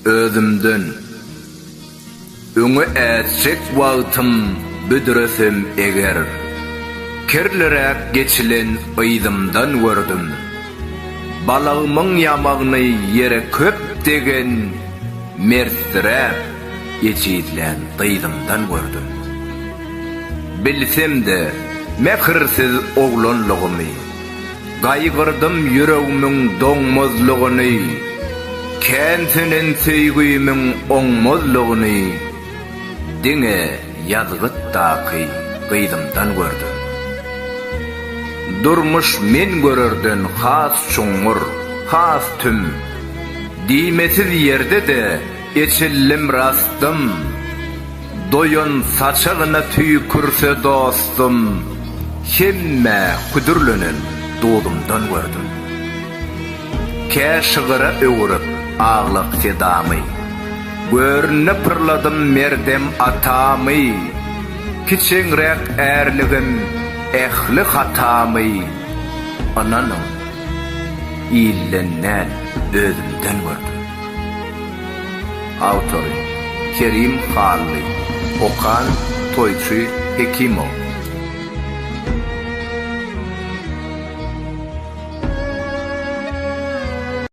Özümden, öňe ätjek wagtym büdresem eger, kirliräk geçilen yzymdan gördüm. Balagymyň ýamagyny ýere köp degen mertdiräk ejizlän gyzymdan gördüm. Bilsem-de, mähirsiz oglanlygymy. Gaýgyrdym ýüregmiň doňmazlygyny, Kän sönen söýgimiň oňmazlygyny Diňe ýazgytdaky gyzymdan gördüm. Durmuş men görerden has çuňňur, has tüm, Diýmesiz ýerde-de eçildim rastym. Doýan saçagyna tüýkürse dostum, Hemmä hüdürlenen duzumdan gördüm. Kä şygyra öwürip aglak sedamy, Görnüne pyrladym merdem atamy, Kiçeňräk ärligim, ähli hatamy, Ynanyň, ilden däl, özümden gördüm. Awtory, Kerim Hally. Okan, Toýçy Hekimow.